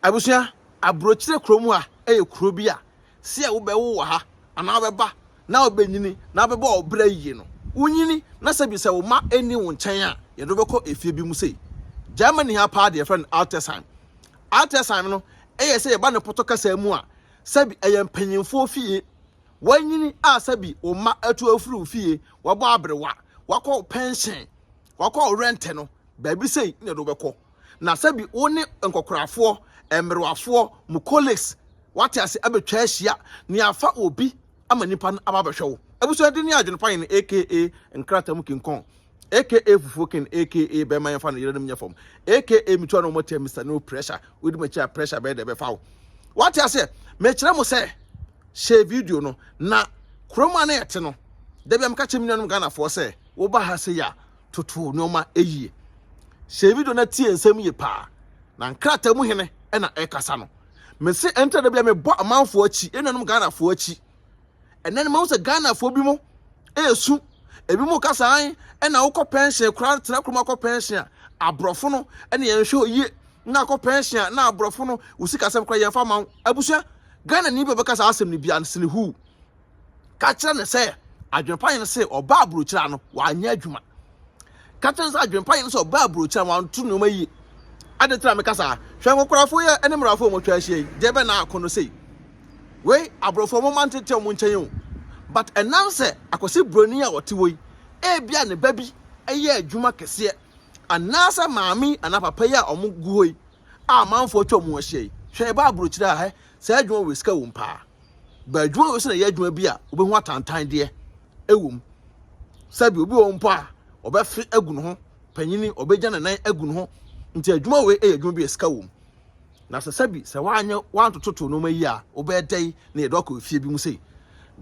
Abusua, aburokyire kuro mu ha yɛ kuro bi a sɛ wobɛwo wɔ ha anaa wobɛba na wobɛnyini na wobɛbɔ wo bra yie no, wonyini na sɛ bi sɛ wo mma nni wo nkyɛn a, yɛde wobɛkɔ efie bi mu sei. Germany ha paa deɛ yɛfrɛ no Altersheim. Altersheim no yɛ sɛ yɛba ne pɔtɔ kasa mu a, sɛ bi ɛyɛ mpanyinfoɔ fie. Wanyini a sɛ bi wo mma atu afiri wo fie, wabɔ aberewa, wakɔ pɛnhyɛn, Wakɔ ɔwerɛ ntɛ no, baabi sei na ɛde wo bɛkɔ. Na sɛ bi wo ne nkɔkorafoɔ, mmerewafoɔ, mo colleagues, wate ase, abɛtwa ahyia, na yɛafa obi ama nipa no aba abɛhwɛ wo. Abusua din ne Adwenepayɛ no aka nkrataa mu kinkɔn, aka fufuo ken, aka bɛrima yɛmfa no yerenom nyɛ fam, aka metua no mmɔteɛ Mister No Pressure, wodi m'akyi a pressure bɛyɛ dɛ ɛbɛfa wo. Wate aseɛ? Mekyerɛ mo sɛ, hyɛ video no, na kurom a na yɛte no, da bi a meka kyerɛ me nuanom Ghanafoɔ sɛ, woba ha sɛ yɛ toto nneɛma yie sɛ video no tie nsɛm yie paa na nkrataa mu hene ɛna ɛkasa no mese ɛntra da bia mebɔ amanfoɔ akyi ɛnuanom ghanafoɔ akyi ɛnɛ no mahu sɛ ghanafoɔ bi mu ɛɛsu ebi mu ka saa ɛna wokɔ pɛnhyɛn koraa tena kurom akɔ pɛnhyɛn a aborɔfo no ɛne yɛn hwɛ oyie na akɔ pɛnhyɛn a na aborɔfo no wo sikasɛm koraa yɛmfa ma wo abusua ghana ni bi a ɔbɛka saa asɛm no bia no sene huu Ka kyerɛ no sɛ adwempa yɛn sɛ ɔbaa aburokyira no wanyɛ adwuma. Ka kyerɛ no sɛ adwempa yɛn sɛ ɔbaa aburokyira wanto nneɛma yie. Ade tena meka saa. Hwɛ nkokorafo yi ne mmerɛfo a wɔatwa ahyia yi. Deɛ bɛn na ako no sei? Wei aborɔfo wɔn mma ntete wɔn nkyɛn o. But ɛnam sɛ akwasi buroni a ɔte hɔ yi, ebia ne ba bi yɛ adwuma kɛseɛ. Anaasɛ maame yi anaa papa yi a wɔn gu hɔ yi a amanfoɔ atwa wɔn ahyia yi. Hwɛ ɛbaa aburokyira a hɛ saa adwuma wei sika wom paa. ba adwuma wei sɛ na ɛyɛ adwuma bi a wobɛhu atantan deɛ ɛwɔ mu sɛbi obi wɔ mpo a ɔbɛfe agu ne ho panyini ɔbɛgya ne nan agu ne ho nti adwuma wei ɛyɛ adwuma bi a sika wɔ mu na sɛ sɛbi sɛ woanyɛ woantototo nneɛma yi a wobɛyɛ dɛn na yɛde wakɔ efie bi mu sei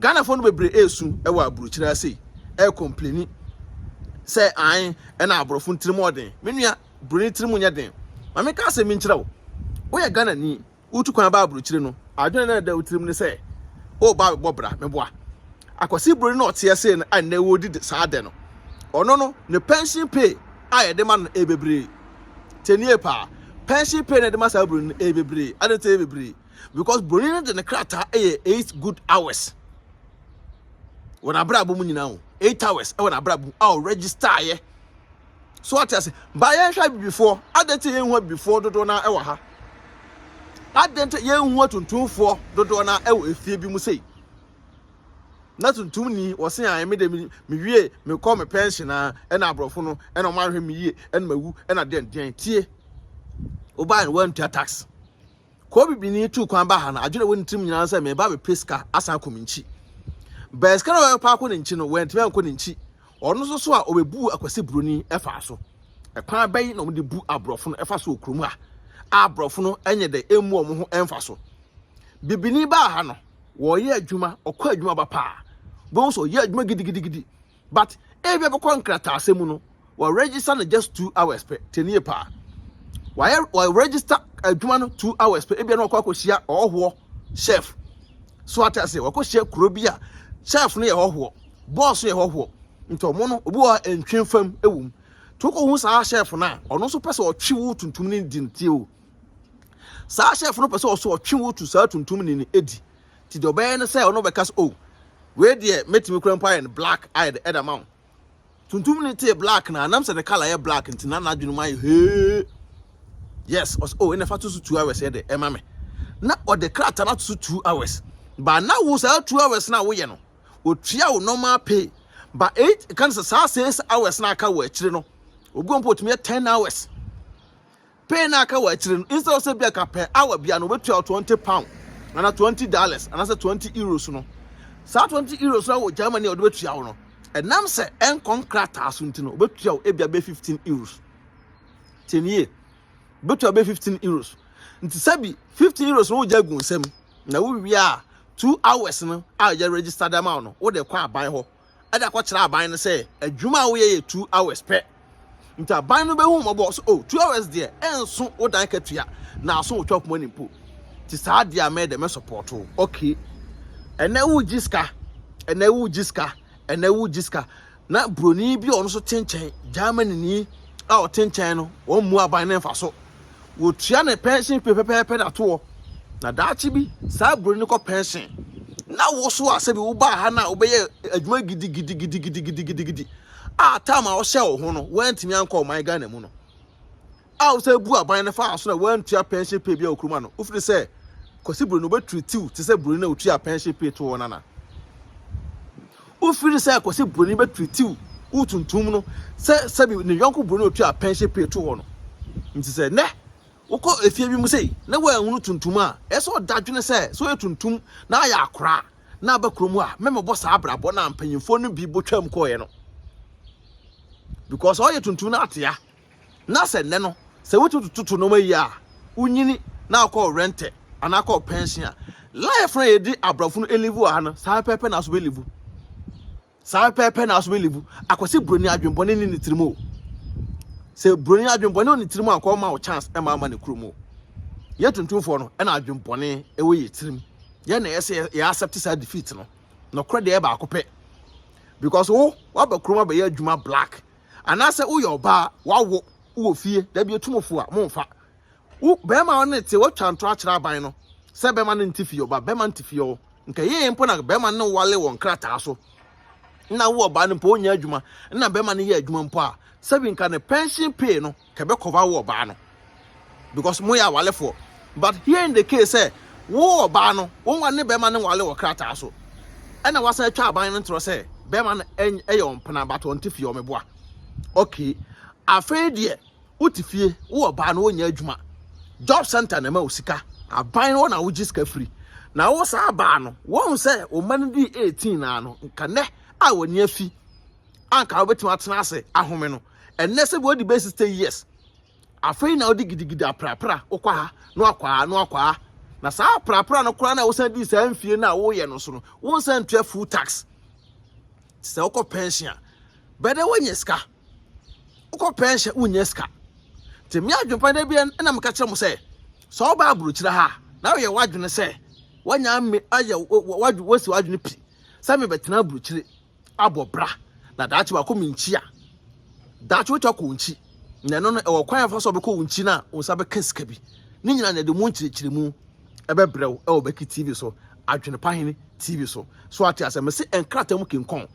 ghanafoɔ no bebree ɛresu ɛwɔ aburokyiri ase yi ɛrekompleni sɛ an ɛna aborɔfo ntiri mu ɔden me nua buroni tiri mu nyɛ den maame ka asɛm bi nkyerɛ wo woyɛ ghanani wotu kwan ba aburokyire no, adwene na ɛda wo tirim ne sɛ, o ba bɛbɔ bra, meboa. Akwasi buroni na ɔteɛ sei no a nnɛ wɔredi saa dɛ no, ɔno no, ne pension pay a yɛde ma no ɛyɛ bebree. Tenie paa, pension pay na yɛde ma saa buroni no ɛyɛ bebree. Adɛn nti ɛyɛ bebree? Because buroni no de ne krataa ɛyɛ eight good hours wɔ n'abrabɔ mu nyinaa o, eight hours ɛwɔ n'abrabɔ mu a ɔregister yɛ. So ɔte ase? Ba yɛnhwɛ abibifoɔ. Adɛn nti yɛnhu abibifoɔ dodoɔ no wɔ ha? Adɛn nti yɛnhu atuntumfoɔ dodoɔ no wɔ efie bi mu sei? Na tuntumni wɔse a ɛme de mewie mekɔ me pension a ɛna aborɔfo no ɛna wɔn ahwɛ me yie ɛna mawu ɛna deɛn deɛn tie wobae no wantua tax Koo bibini tuu kwan ba ha no, adwene a ɛwɔ ne tirim nyinaa sɛ mereba abɛpɛ sika asan akɔ me nkyi. Bɛɛ sika no a ɔbɛpa akɔ ne nkyi no, wantumi ankɔ ne nkyi. Ɔno nso so a ɔbɛbuu akwasi buroni ɛfaa so. Ɛkwan bɛn na wɔde bu aborɔfo no ɛfa so wɔ kurom a aborɔfo no nyɛ dɛ ɛmmu wɔn ho ɛmfa so? Bibini baa ha no, wɔyɛ adwuma, ɔkɔ adwuma ba paa, wobɛhu sɛ ɔyɛ adwuma gidigidigidi. but ebia bɛkɔ nkrataasɛm mu no wɔ register no just two hours pɛ tenie paa wɔayɛ wɔ register adwuma no two hours pɛ ebia na wɔkɔ akɔhyia ɔhɔhoɔ chef so ate ase wɔkɔhyia kuro bi a chef no yɛ hɔhoɔ boss yɛ hɔhoɔ nti ɔmo no obi wɔ hɔ ntwe fam ɛwɔ mu to kɔ hu saa chef no a ɔno nso pɛ sɛ ɔtwe wo tuntum ne di nti o saa chef no pɛ sɛ ɔso ɔtwe wo tu saa tuntum ne ne edi Nti deɛ ɔbɛyɛ ne sɛ ɔno ɔbɛka sɛ oh wei deɛ mɛtumi kura mpo ayɛ no black ayɛ de ɛda ma wo. Tuntum ne tee black na nam sɛ ne colour yɛ black nti na n'adwene mu ayɛ hee. Yes, ɔsɛ oh ɛna fa to so two hours yɛ de ɛma me. Na ɔde krataa no ato so two hours. Ba na wo saa two hours na woyɛ no otua wo normal pay. Ba eight kan sɛ saa six hours na aka wɔ akyire no obi mpo otumi yɛ ten hours. Pay no a aka wɔ akyire no, instead of sɛ bia ka per hour bia no wɔbɛtua wo 20 pound anaa 20 dollars anaasɛ 20 euros no, saa 20 euros no wɔ Germany a wɔde bɛtua wo no, ɛnam sɛ ɛnkɔ nkrataa so nti no, wɔbɛtua wo ebia bɛ 15 euros. Tie nie, wɔbɛtua bɛ 15 euros. Nti sɛ bi 15 euros no wogya gu nsam na wowie a 2 hours no a yɛ register dama wo no, wode kɔ aban hɔ. de akɔkyerɛ aban no sɛ adwuma a woyɛ yɛ two hours pɛ. Nti aban no bɛhu mmɔbɔ so, oh, two hours deɛ ɛnso wo dan katua na aso wo chop money mpo. Nti saa deɛ a mɛyɛ dɛ mɛ support wo, okay. Ɛnɛ wogye sika, ɛnɛ wogye sika, ɛnɛ wogye sika. Na buroni bi a ɔno nso te nkyɛn, Germany ni a ɔte nkyɛn no, wɔn mmu aban no mfa so. wɔtua ne pɛnsen pue pɛpɛɛpɛ na toɔ na daakye bi saa buroni no kɔ pɛnsen na wo so a sɛbi wobaa ha no a wobɛyɛ adwuma gidigidigidigidigidigidi a tam a wɔhyɛ wo ho no woantumi ankɔ ɔman ghana mu no a wosɛ bu aban no faa so na woantua pɛnsen pue bi a wokuruma no wofiri sɛ kwasi buroni wobɛtiritiw te sɛ buroni na wotua pɛnsen pue toɔ nana Wofi no sɛ kɔsi buroni bɛtwitiw wo tuntum no sɛ sɛbi ne yɔnko buroni a otua pɛnhye pay to hɔ no. Nti sɛ nnɛ wokɔ efie bi mu sei na woanhunu tuntum a, ɛyɛ sɛ ɔda dwene sɛ sɛ ɔyɛ tuntum na ayɛ akora na aba kurom a, mɛmɛbɔ saa abrabɔ no a mpanyimfoɔ no bi botwam kɔeɛ no. Because ɔyɛ tuntum na atea. Na sɛ nnɛ no, sɛ wotumi toto nneɛma yie a, wonyini na wokɔ rɛntɛ anaa wokɔ pɛnhyen a, life no a yɛde aborɔfo no live wɔ ha no, saa pɛpɛ na aso bɛlivu. Saa pɛpɛ na aso bɛlivu. Akwasi buroni adwembɔne ne ne tirim o. Sɛ buroni adwembɔne wɔ ne tirim a, kɔɔ ma wo chance ɛma ama ne kurom o. Yɛ tuntumfoɔ no ɛna adwembɔne ɛwɔ yɛ tirim. Yɛ na ɛyɛ sɛ yɛ accept saa defeat no. Nɔkorɛ deɛ ɛyɛ baako pɛ. Because wo, waba kurom abɛyɛ adwuma black. anaasɛ woyɛ ɔbaa wawo wowɔ fie dabi otumofo a momfa wo bɛrima a ɔne te watwa ntorɔ akyerɛ aban no sɛ bɛrima no nte fie ɔba bɛrima nte fie ɔwɔ nka yɛyɛ mpo na bɛrima no wale wɔ nkrataa so na wo ɔbaa no mpo ɔnyɛ adwuma na bɛrima no yɛ adwuma mpo a sɛbi nka ne pension pay no kɛbɛ kɔba wo ɔbaa no because mo yɛ awalefoɔ but here in the case sɛ wo ɔbaa no wɔn wa ne bɛrima no wale wɔ krataa so ɛna wasan atwa aban no ntorɔ sɛ bɛrima no ɛyɛ ɔmpena but ɔnte fie ɔmeboa okay afei deɛ wote fie wo ɔbaa no wɔnyɛ adwuma job center na ɛma wo sika aban no na wogye sika firi na wo saa baa no wɔn sɛ ɔma no di 18 naa no nka nɛ a wɔni afi anka wobɛtumi atena ase ahome no ɛnnɛ sɛ wɔadi bɛyɛ sixty years afei na ɔde gidigidi aprapra wokɔ ha na wakɔ ha na wakɔ ha na saa aprapra no koraa na wosan di saa mfie no a woyɛ no so no wonsan ntua full tax sɛ wokɔ pension a bɛdɛ wonyɛ sika wokɔ pension wonyɛ sika nti me adwempa da bi na meka kyerɛ mo sɛ sɛ ɔba aburokyerɛ ha na woyɛ w'adwene sɛ wanya ayɛ wasi w'adwene pi sɛ mebɛtena aburokyire abɔ bra na daakye wakɔ me nkyi a daakye wotwa kɔ nkyi na ɛno no ɛwɔ kwan afa so ɔbɛkɔ wo nkyi no a wo nsa bɛka sika bi ne nyinaa na ɛde mu nkyerɛkyerɛ mu ɛbɛbrɛ wo ɛwɔ bɛki tv so adwene pa hene tv so so ate asɛ mese ɛnkrata mu kinkɔn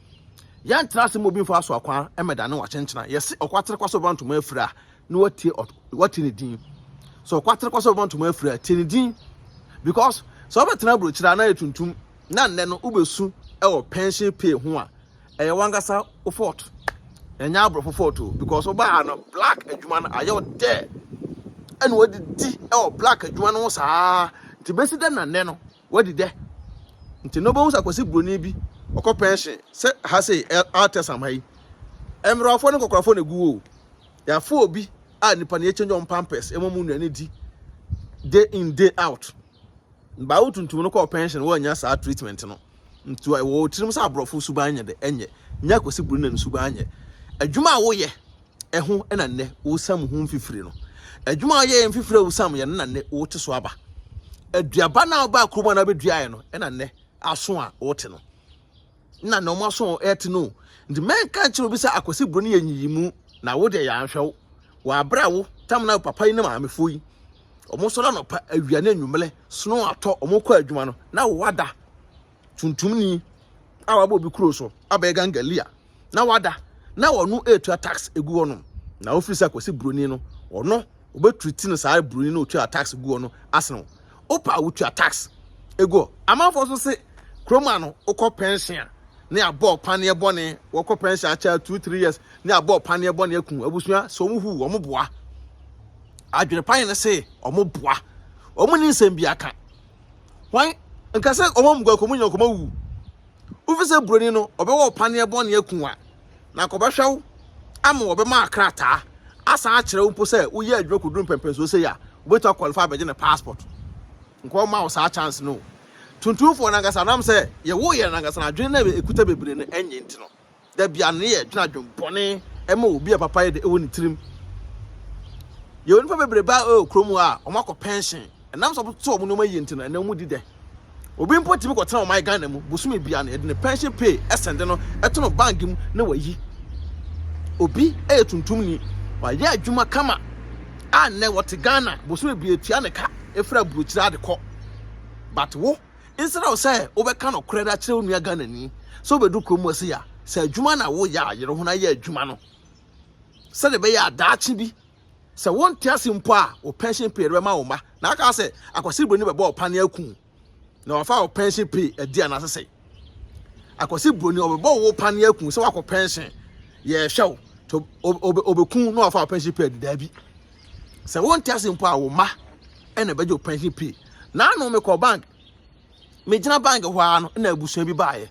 yɛntra ase ma obi mfa so akwan ɛmɛda ne wakyenkyena yɛse ɔkwatere kwa so bɛba ntoma afiri a ne watie wate ne din so ɔkwatere kwa so bɛba ntoma afiri a tie ne din because sɛ ɔbɛtena aburokyerɛ a na yɛ tuntum na nnɛ no wobɛsu wɔ pension pay ho a, ɛyɛ wankasa wo fault. Ɛnyɛ aborɔfo fault o because wobaa ha no black adwuma no ayɛ wo dɛ ɛna wɔde di wɔ black adwuma no ho saa nti bɛsi dɛ na nnɛ no wɔadi dɛ nti na wobɛhu sɛ akwasi buroni bi ɔkɔ pension sɛ ha sei altesam ha yi mmerɛwafoɔ ne nkɔkorafoɔ na ɛgu o yɛafo obi a nipa no yɛkyɛnjɔ mpampɛs ɛma mu nnuane di day in day out Baa wo tuntum no kɔɔ pɛnhyen woannya saa treatment no. Nti ɛwɔ wo tirim sɛ aborɔfo suban nyɛ dɛ ɛnyɛ. Nya Kwasi Brunan suban nyɛ. Adwuma a woyɛ ɛho na nnɛ wosam ho mfifire no. Adwuma a woyɛɛ mfifire a wosam yɛ no na nnɛ wote so aba. Aduaba no a wobaa kurom a na wobɛduaeɛ no na nnɛ aso a wote no. na na wɔn aso ɛte no nti mɛnka nkyerɛ obi sɛ akwasi buro no yɛ nyiyimu na wo deɛ yɛanhwɛ wo wɔabrɛ wo tam na papa yi ne maamefoɔ yi wɔn sɔrɔ anɔpa awia ne anwummerɛ sono atɔ wɔn kɔ adwuma no na wada tuntumni a wabɔ obi kuro so abɛyɛ gangalia na wada na wɔn ɛretua tax egu hɔ nom na wofiri sɛ akwasi buroni no ɔno obe treat no saa broni no otwa tax guo no asen wo opa wo twa tax ego amanfo so se kroma no okɔ pension a ne abɔ paneɛ bɔne wɔkɔ pension akyɛ 2 3 years ne abɔ paneɛ bɔne aku abusua so wɔn hu wɔn boa adwene pan ne se wɔn boa wɔn ni nsɛm bi aka wɔn nkasa wɔn mu gwa kɔmu nyɛ kɔmu wu ofise broni no ɔbɛwɔ paneɛ bɔne aku a na kɔbɛhwɛ wo ama wɔbɛma akrataa asan akyerɛ wo mpo sɛ woyɛ adwuma kɔduru mpɛmpɛnsoɔ sei a wobɛtumi akwalify abɛgye ne passport nkɔma wo saa chance no tuntumfoɔ no ankasa nam sɛ yɛwo yɛ no ankasa no adwene na ɛkuta bebree no ɛnyɛ nti no da bia no yɛ adwene adwene bɔne ɛma obi a papa yɛ de ɛwɔ ne tirim yɛwɔ nipa bebree baa ɛwɔ kurom a wɔakɔ pension Ɛnam sɛ wɔtete wɔn nneɛma yiye nti no, ɛnna wɔn di dɛ. Obi mpo tumi kɔtena ɔman Ghana mu, bosome biara no, yɛde ne pension pay sɛnde no to no bank mu na wayi. Obi yɛ tuntumni, wayɛ adwuma kama a nnɛ wɔte Ghana, bosome biara tua ne ka firi aburokyire ade kɔ. But wo, nsra wo sɛ wobɛka nokorɛ de akyerɛ wo nua Ghanani sɛ wobɛdu kurom ase ya, sɛ adwuma na woyɛ a yere ho na yɛ adwuma no sɛdeɛ ɛbɛyɛ a daakye bi Sɛ wonte ase mpo a, wo pension pay de bɛma wo mma. Na aka sɛ akwasiri buroni bɛbɔ ɔpa ne aku na wafa wo pension pay adi anaasɛ sɛ akwasiri buroni ɔbɛbɔ wo pa ne aku sɛ wakɔ pension yɛhwɛ wo to ɔbɛku na wafa wo pension pay adi daabi sɛ wonte ase mpo a wo mma ɛna ɛbɛgye wo pension pay na ano mekɔ bank megyina bank hɔ ara no na abusua bi baeɛ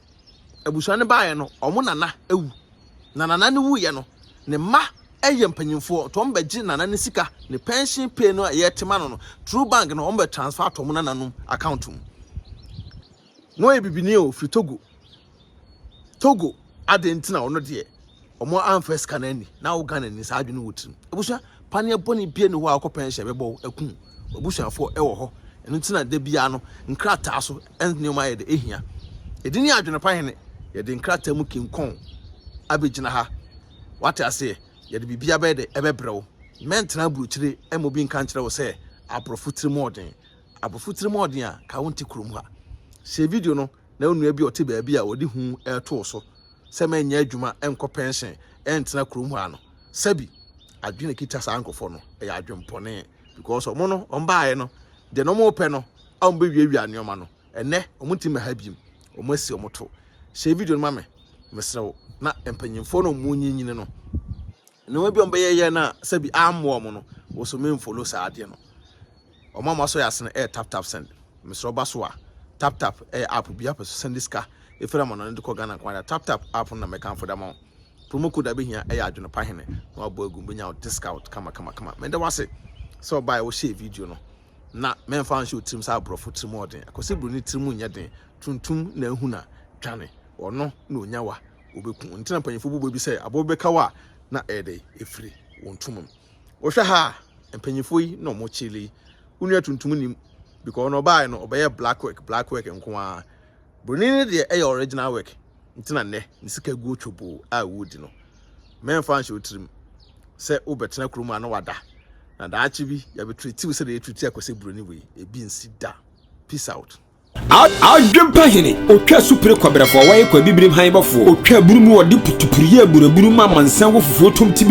Abusua no baeɛ no, wɔn nana awu. Na nana no wuiɛ no, ne mma yɛ mpanyinfoɔ nti wɔn bɛgye nana no sika, ne pension pay no a yɛte ma no no, through bank na wɔn bɛ transfer ato wɔn nananom account mu. Na ɔyɛ bibini o, firi Togo. Togo, adɛn nti na ɔno deɛ. wɔn amfa sika no ani na wo Ghana ni saa adwene wɔ tirim abusua paneɛ bɔne bie ne hɔ a wokɔ pɛnhyɛ bɛbɔ wo akum abusuafoɔ ɛwɔ hɔ ɛno nti na da biara no nkrataa so nneɛma yɛ de ehia yɛde ni adwene pa hene yɛde nkrataa mu kinkɔn abɛgyina ha wate aseɛ yɛde biribi abɛyɛ de ɛbɛbrɛ wo mɛntena aburokyire ɛma obi nka nkyerɛ wo sɛ aborɔfo tirim ɔden aborɔfo tirim ɔden a ka wo nte kurom ha hyɛ video no na onua bi a ɔte baabi a wɔde hu reto wo so sɛ mɛnyɛ adwuma nkɔ pɛnhyen ntena kurom hɔ ano. Sɛbi, adwene a ɛkita saa nkurɔfoɔ no yɛ adwempɔne because wɔn no, wɔn baeɛ no, deɛ na wɔpɛ no a wɔbɛwiawia nneɛma no, ɛnɛ wɔn nti mɛha biom, wɔn asi wɔn to. Hyɛ video no ma me, mesrɛ wo, na mpanyinfoɔ no a wɔn nyinyini no, nneɛma bi a wɔbɛyɛyɛ no a sɛbi ammoa wɔn no, wo so menfollow saa adeɛ no. Ɔmo a ɔmo asɔ yɛ ase no ɛyɛ taptap send. Mesrɛ wo ba so a taptap ɛyɛ app obiaa pɛ so sɛnde sika ɛfiri amanɔne de kɔ Ghana nko ara taptap app no na mɛkanfo de ama wo. Promo code a bɛhia ɛyɛ adwene pa hene na wabɔ agu mu bɛnya wo discount kama kama kama. Meda wo ase sɛ wobaeɛ wo share video no na mɛmfa anhyɛ wo tirim sɛ aborɔfo tirim wɔ den ɛkɔ sɛ broni tirim nyɛ den tuntum na ahu na dwane ɔno na ɔnya wa ɔbɛku ɔno nti na mpanyinfo bobɔ bi sɛ aboa bi bɛka wo a na ɛyɛ dɛn ɛfiri wɔn ntoma mu. Wohwɛ ha a, mpanyinfoɔ yi na wɔn kyele. Wo nua tuntum nim because ɔno ɔbaa no ɔbɛyɛ black work black work nko ara. Broni no deɛ ɛyɛ original work nti na nnɛ ne sika guo twoboo a wodi no. Mɛnfa nhyɛ otirim sɛ wobɛtena kurom a na wada na daakye bi yɛbɛtretiw sɛ deɛ yɛtreti akɔsɛ broni wei ebi nsi da. Peace out. Adwempa hene, otwa supire kwabrɛfoɔ, wɔyɛ kwa bibirim han bɔfoɔ, otwa aburu mu wɔde putupuru yɛ aburaburu ma amansan wɔ fufuo tom ti bi.